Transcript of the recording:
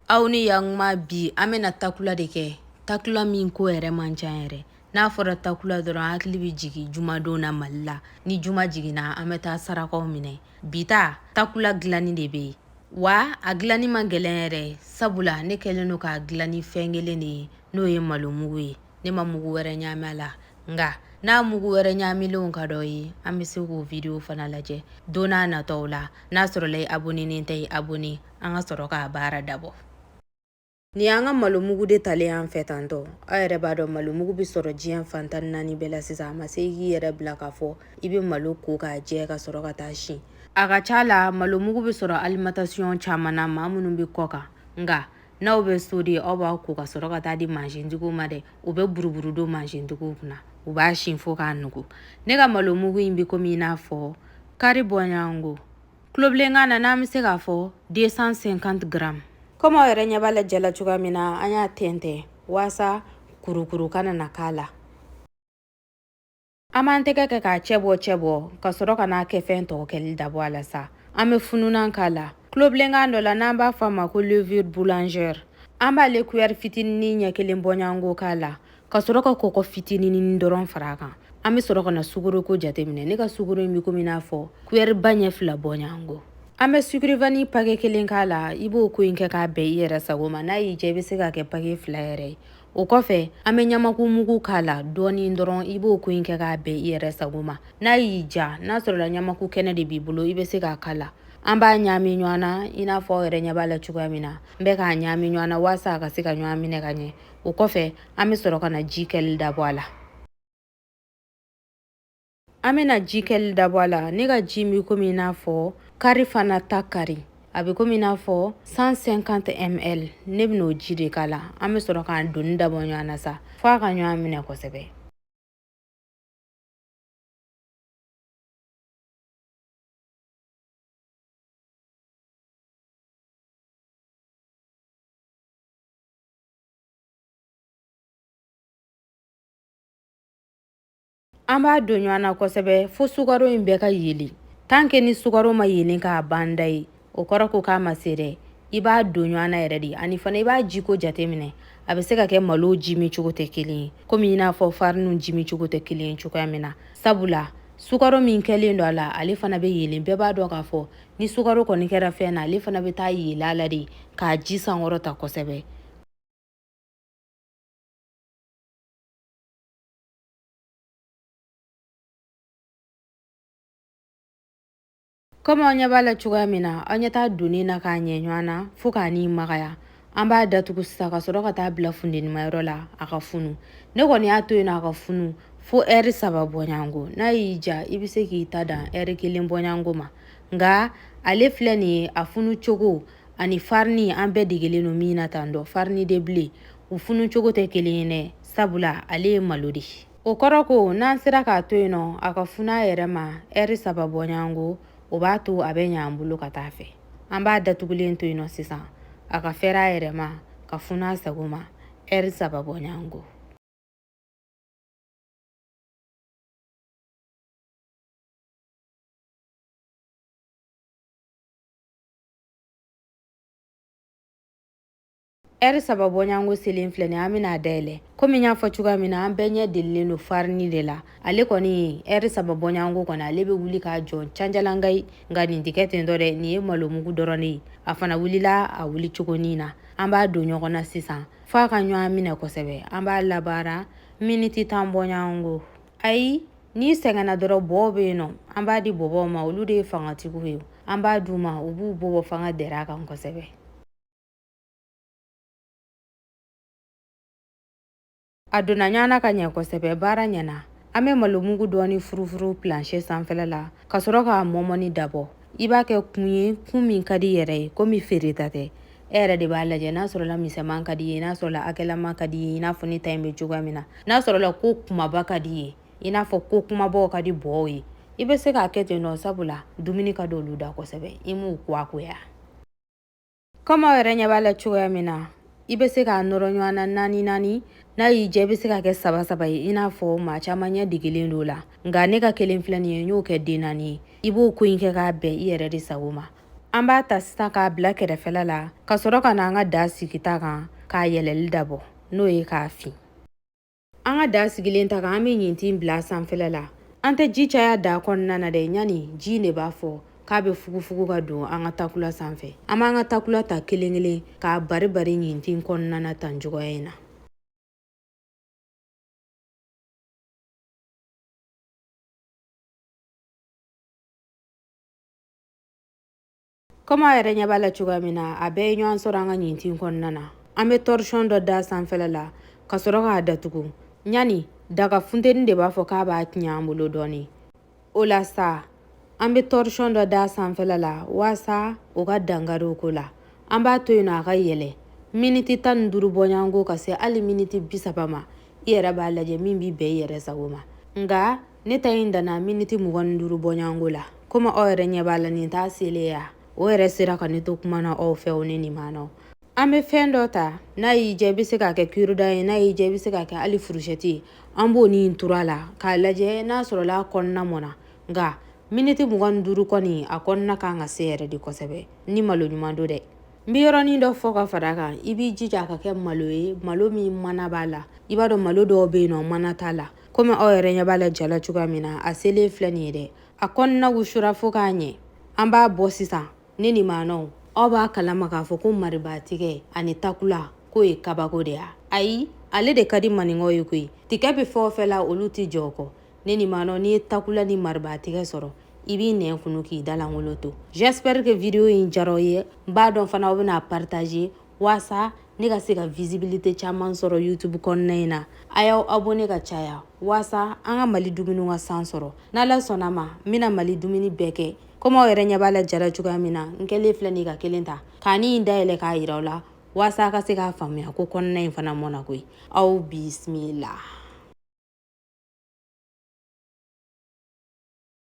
aw ni yakuma bi an bɛna takula de kɛ takula min ko yɛrɛ man ca yɛrɛ n'a fɔra takula dɔrɔn hakili bɛ jigin jumadon na mali la ni juma jiginna an bɛ taa sarakaw minɛ bi ta takula dilanni de bɛ yen wa a dilanni man gɛlɛn yɛrɛ sabula ne kɛlen don k'a dilan ni fɛn kelen de ye n'o ye malo mugu ye ne ma mugu wɛrɛ ɲaami a la nka n'a mugu wɛrɛ ɲaamilenw ka d'aw ye an bɛ se k'o video fana lajɛ don nataw la n'a sɔrɔla i abonenen tɛ i abone an ka sɔrɔ k'a baara dabɔ nin y'an ka malo mugu de talen y'an fɛ tantɔ aw yɛrɛ b'a dɔn malo mugu bɛ sɔrɔ diɲɛ fan tan naani bɛɛ la sisan a ma se i k'i yɛrɛ bila k'a fɔ i bɛ malo ko k'a jɛ ka sɔrɔ ka t'a si a ka ca la malo mugu bɛ sɔrɔ alimatasiyɔn caman na maa minnu bɛ kɔkan nka n'aw bɛ so de aw b'a ko ka sɔrɔ ka t'a di mansintigiw ma dɛ u bɛ buruburu don mansintigiw kunna u b'a si fo k'a nugu ne ka malo mugu in bɛ komi i n'a fɔ kari bɔɲɔgɔnko tulobilenkan na n'an bɛ se k'a fɔ 250 gram komi aw yɛrɛ ɲɛ b'a la ja la cogoya min na an y'a tɛntɛn waasa kurukuru kana na k'a la an b'an tɛgɛ kɛ k'a cɛ bɔ cɛ bɔ ka sɔrɔ ka n'a kɛfɛn tɔw kɛli dabɔ a la sa an bɛ fununan k'a la tulobilenkan dɔ la n'an b'a fɔ a ma ko levure boulanger an b'ale kuyɛri fitinin ɲɛ kelen bɔɲɔgɔnko k'a la ka sɔrɔ ka kɔkɔ fitinin dɔrɔn fara a kan an bɛ sɔrɔ ka na sukoroko jateminɛ ne ka sukoro in bɛ komi n'a fɔ kuyɛriba ɲɛ fila bɔɲɔgɔnko an bɛ sucre vanille pake kelen k'a la i b'o ko in kɛ k'a bɛn i yɛrɛ sago ma n'a y'i diya i bɛ se k'a kɛ pake fila yɛrɛ ye o kɔfɛ an bɛ ɲamaku mugu k'a la dɔɔni dɔrɔn i b'o ko in kɛ k'a bɛn i yɛrɛ sago ma n'a y'i diya n'a sɔrɔla ɲamaku kɛnɛ de b'i bolo i bɛ se k'a k'a la an b'a ɲaami ɲɔgɔn na i n'a fɔ aw yɛrɛ ɲɛ b'a la cogoya min na n bɛ k'a ɲaami ɲɔgɔn na waasa a ka se ka ɲɔgɔn minɛ ka ɲɛ o kɔfɛ an bɛ sɔrɔ ka na ji kɛli dabɔ a la an bɛna ji kɛli dabɔ a la ne ka ji bɛ komi i n'a fɔ kari fana ta kari a bɛ komi i n'a fɔ 150 ml ne bɛna o ji de k'a la an bɛ sɔrɔ k'a donni dabɔ ɲɔgɔn na sa fo a ka ɲɔgɔn minɛ kosɛbɛ an b'a don ɲɔgɔn na kosɛbɛ fo sukaro in bɛɛ ka yelen tan ke ni sukaro ma yelen k'a ban da ye o kɔrɔ ko k'a ma se dɛ i b'a don ɲɔgɔn na yɛrɛ de ani fana i b'a jiko jateminɛ a bɛ se ka kɛ malo ji min cogo tɛ kelen ye komi i n'a fɔ fariniw ji min cogo tɛ kelen ye cogoya min na sabula sukaro min kɛlen don a la ale fana bɛ yelen bɛɛ b'a dɔn k'a fɔ ni sukaro kɔni kɛra fɛn na ale fana bɛ taa yeelen a la de k'a ji sankɔrɔta kosɛbɛ komi aw ɲɛ b'a la cogoya min na aw ɲɛ t'a donni na k'a ɲɛ ɲɔgɔn na fo k'a ni magaya an b'a datugu sisan ka sɔrɔ ka taa bila fundenimayɔrɔ la a ka funu ne kɔni y'a to yen na a ka funu fo ɛri saba bɔɲango n'a y'i diya i bɛ se k'i ta dan ɛri kelen bɔɲango ma nka ale filɛ nin ye a funu cogo ani farini an bɛɛ degelen don min na tan dɔ farini de bile u funu cogo tɛ kelen ye dɛ sabula ale ye malo de ye o kɔrɔ ko n'an sera k'a to yen nɔ a ka funu a yɛrɛ ma ɛri saba bɔɲango o b'a to a bɛ ɲɛ an bolo ka taa fɛ an b'a datugulen to yen nɔ sisan a ka fɛrɛ a yɛrɛ ma ka funu a sago ma ɛri saba bɔɲango ɛri saba bɔɲango selen filɛ nin an bɛn'a dayɛlɛ komi n y'a fɔ cogoya min na an bɛɛ ɲɛ delilen don farini de la ale kɔni ɛri saba bɔɲango kɔni ale bɛ wuli ka jɔ canjalangayi nka nin tɛ kɛ ten dɔ dɛ nin ye malomugu dɔrɔn de ye a fana wulila a wuli cogonin na an b'a don ɲɔgɔn na sisan f'a ka ɲɔgɔn minɛ kosɛbɛ an b'a labaara miniti tan bɔɲango ayi n'i sɛgɛnna dɔrɔn bɔw bɛ yen nɔ an b'a di bɔbɔw ma olu de ye fangatigiw ye an b'a d'u ma u b'u bɔbɔ fanga dɛrɛ a kan kosɛbɛ A donna ɲɔgɔn na ka ɲɛ kosɛbɛ baara ɲɛna an bɛ malomugu dɔɔni furufuru planche sanfɛla la ka sɔrɔ k'a mɔmɔni dabɔ i b'a kɛ kun ye kun min ka di yɛrɛ ye komi feereta tɛ e yɛrɛ de b'a lajɛ n'a sɔrɔla misɛman ka di ye n'a sɔrɔla hakɛlama ka di ye i n'a fɔ ne ta in bɛ cogoya min na n'a sɔrɔla ko kumaba ka di ye i n'a fɔ ko kumabaw ka di bɔw ye i bɛ se k'a kɛ ten nɔ sabula dumuni ka di olu da kosɛbɛ i m'u kuwakoya komi aw yɛrɛ ɲɛ b'a la cogoya min na i bɛ se k'a nɔrɔ ɲɔgɔn na naani naani n'a y'i diya i bɛ se k'a kɛ saba saba ye i n'a fɔ maa caman ɲɛ degelen don la nka ne ka kelen filɛ nin ye n y'o kɛ den naani ye i b'o ko in kɛ k'a bɛn i yɛrɛ de sago ma an b'a ta sisan k'a bila kɛrɛfɛla la ka sɔrɔ ka na an ka da sigi ta kan k'a yɛlɛli dabɔ n'o ye k'a fin an ka da sigilen ta kan an bɛ ɲintin bila sanfɛla la an tɛ ji caya da kɔnɔna na dɛ ɲani ji de b'a fɔ k'a bɛ fugufugu ka don an ka takula sanfɛ an b'an ka takula ta kelen kelen k'a bari bari ɲintin kɔnɔna na tan cogoya in na kɔmi a yɛrɛ ɲɛ b'a la cogoya min na a bɛɛ ye ɲɔgɔn sɔrɔ an ka ɲintin kɔnɔna na an bɛ torchon dɔ da sanfɛla la ka sɔrɔ k'a datugu yani daga funteni de b'a fɔ k'a b'a tiɲɛ an bolo dɔɔni o la sa an bɛ torchon dɔ da sanfɛla la waasa o ka dankari o ko la an b'a to yen nɔ a ka yɛlɛ miniti tan ni duuru bɔɲɔgɔnko ka se hali miniti bi saba ma i yɛrɛ b'a lajɛ min b'i bɛn i yɛrɛ sago ma nka ne ta in danna miniti mugan ni duuru bɔɲɔgɔnko la komi aw yɛrɛ ɲɛ b'a la nin t'a selen ya o yɛrɛ sera ka ne to kuma na aw fɛ o ne ni maanaw an bɛ fɛn dɔ ta n'a y'i diya i bɛ se k'a kɛ cure-dent ye n'a y'i diya i bɛ se k'a kɛ hali furusɛti ye an b'o nin turu a la k'a lajɛ n'a sɔrɔla a kɔnɔna mɔna nka miniti mugan ni duuru kɔni a kɔnɔna kan ka se yɛrɛ de kosɛbɛ ni malo ɲuman don dɛ n bɛ yɔrɔnin dɔ fɔ ka fara kan i b'i jija a ka kɛ malo ye malo min mana b'a la i b'a dɔn malo dɔw bɛ yen nɔ mana t'a la komi aw yɛrɛ ɲɛ b'a la ja la cogoya min na a selen filɛ nin ye dɛ a kɔnɔna wusura fo k'a ɲɛ an b'a bɔ sisan ne ni maanaw aw b'a kalama k'a fɔ ko maribaatigɛ ani takula k'o ye kabako de ya ayi ale de ka di maninkaw ye koyi tigɛ bɛ fɛn o fɛn la olu tɛ jɔ o kɔ ne ni maanaw n'i ye takula ni maribaatigɛ sɔrɔ i b'i nɛn kunu k'i da lankolon to j'espère que vidéo in diyara aw ye n b'a dɔn fana aw bɛna partager waasa ne ka se ka visibilité caman sɔrɔ youtube kɔnɔna in na a y'aw abonné ka caya waasa an ka mali dumuni ka san sɔrɔ n'ala sɔnna a ma n bɛna mali dumuni bɛɛ kɛ komi aw yɛrɛ ɲɛ b'a la ja la cogoya min na n kɛlen filɛ nin ka kelen ta ka nin dayɛlɛ k'a yira aw la waasa a ka se k'a faamuya ko kɔnɔna in fana mɔna koyi aw bisimila